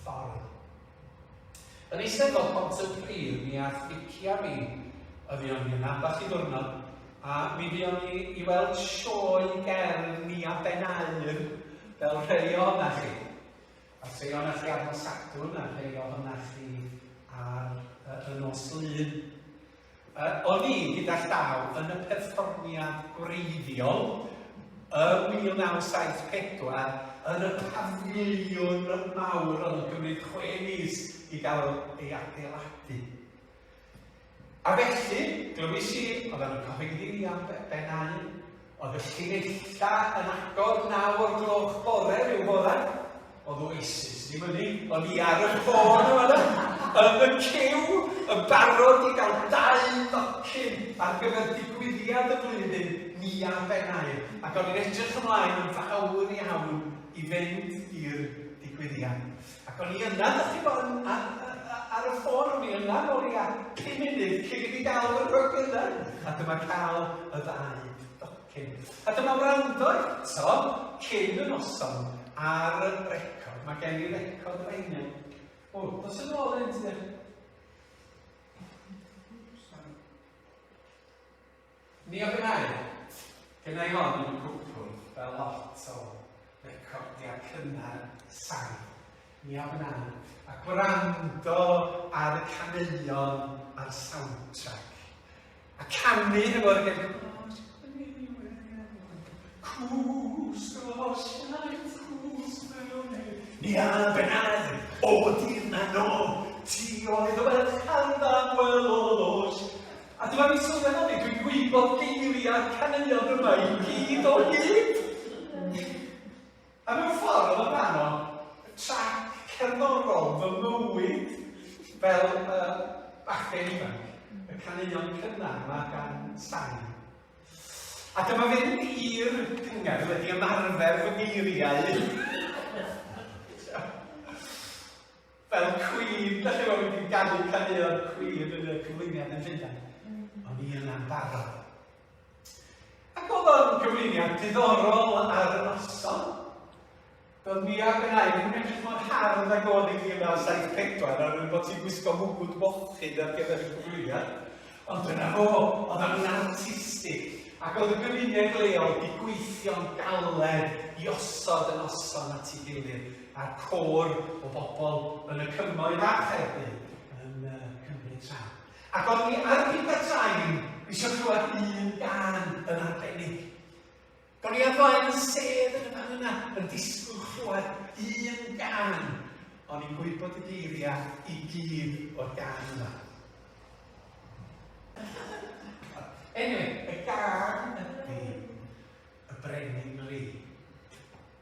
Farw. Yn Eisteddfod Pontypridd mi ath Vicia fi y fuon ni yna ambell i ddiwrnod a mi fuon ni i weld sioe gerdd ni a Ben Aur fel rhei o'na chi. A rhei o'na chi ar nos Sadwrn a rhei o'na chi ar y, y nos Lun. O'n i gyda llaw yn y perfformiad gwreiddiol ym 1974, yr y pafiliwn mawr oedd yn cymryd chwe mis i gael ei adeiladu. A felly, glywais i, oeddan nhw'n cyhoeddi fi am Ben a un, Oedd y llineitha yn agor naw o'r gloch bore rhyw fore. Oedd Oasis ddim yn un, o'n i ar y ffôn yn fan'na, yn y ciw, yn barod i gael dau docyn ar gyfer digwyddiad y flwyddyn, ni ar Ben Aur, ac o'n i'n edrych ymlaen yn fawr iawn i fynd i'r digwyddiad. Ac o'n i yna, dych chi'n bod, ar y ffôn, o'n i yna nôl i a pum munud cyn i fi gael fy rhygyddau. A dyma cael y ddau docyn. A dyma wrando eto cyn y noson ar y record. Mae gen i record reina. O, dos yn ôl yn ti Mi a gwnai. Gynna-i hon yn cwpl, fel lot o recordiau cynnar sain. Mi a gwnai. A gwrando ar y caneuon a'r soundtrack. A canu hefo'r hen cwrs o siaith, cwrs mewn ei. Mi a gwnai. O dir na nôl, ti oedd y ferch arfaf welodd o siaith. A dwi wedi sylweddoli, dwi'n gwybod geiriau'r caneuon yma i gyd o hyd! A mewn ffordd oedd o'n rhan o trac cerddorol fy mywyd fel uh, bachgen ifanc, y caneuon cynnar yma gan Stan. A dyma fynd i'r cyngerdd wedi ymarfer fy geiriau. fel cwîn, dach chi'n gwybod, wedi ganu caneuon cwîn yn y cyflwyniad yn Llundain. Mm. O'n i yna'n barod. Ac oedd o'n gyflwyniad diddorol ar y noson. Doedd mi a Benai ddim yn edrych mor hardd ag oedd i 1974 ar ôl bod ti'n gwisgo mwgwd mochyn ar gyfer y cyflwyniad. Ond dyna fo, oedd o'n artistig. Ac oedd y gymuned leol wedi gweithio'n galed i osod y noson at ei gilydd. a'r côr o bobl yn y cymoedd a Chaerdydd yn uh, cymryd rhan. Ac o'n i ar y Sain eisiau clywed un gan yn arbennig. Do'n i ar flaen y sedd yn y fan yna yn disgwyl chlywed un gan. O'n i'n gwybod y geiriau i gyd o'r gan yma. Anyway, y gan ydy y brenin Lee.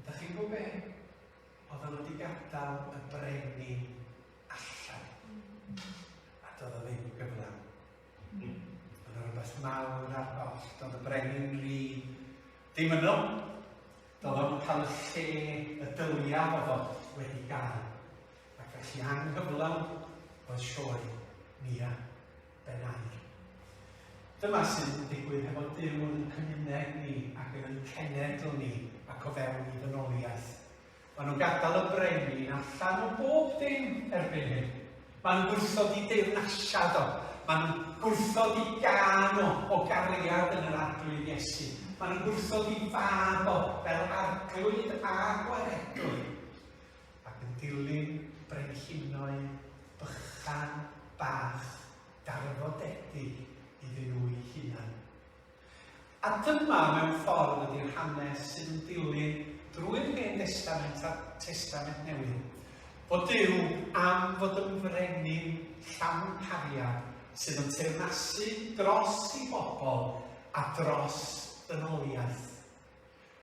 Ydach chi'n gwybod be? Oedden nhw wedi gadael y brenin allan. A doedd o ddim yn gyflawn. Oedd yna rhywbeth mawr ar goll. Doedd y brenin rhi ddim yno. Doedd o'n cael y lle y dylia oedd o wedi gael. Ac felly anghyflawn oedd sioe Mia. Ben Aur. Dyma sydd yn digwydd hefo Duw yn ein cymuned ni ac yn ein cenedl ni ac o fewn i ddynoliaeth. Maen nhw'n gadael y brenin allan o bob dim erbyn hyn. Maen nhw'n gwrthod i deyrnasiad o. Maen nhw'n gwrthod i gan o o gariad yn yr arglwydd Iesu. Maen nhw'n gwrthod i fab o fel arglwydd a gwaredwr. Ac yn dilyn brenhinoedd bychan bach darfodedig iddyn nhw'u hunain. A dyma mewn ffordd ydi'r hanes sydd yn dilyn drwy'r Hen Destament a'r Testament Newydd, bod Duw am fod yn frenin llawn cariad sydd yn teyrnasu dros ei bobl a dros ddynoliaeth.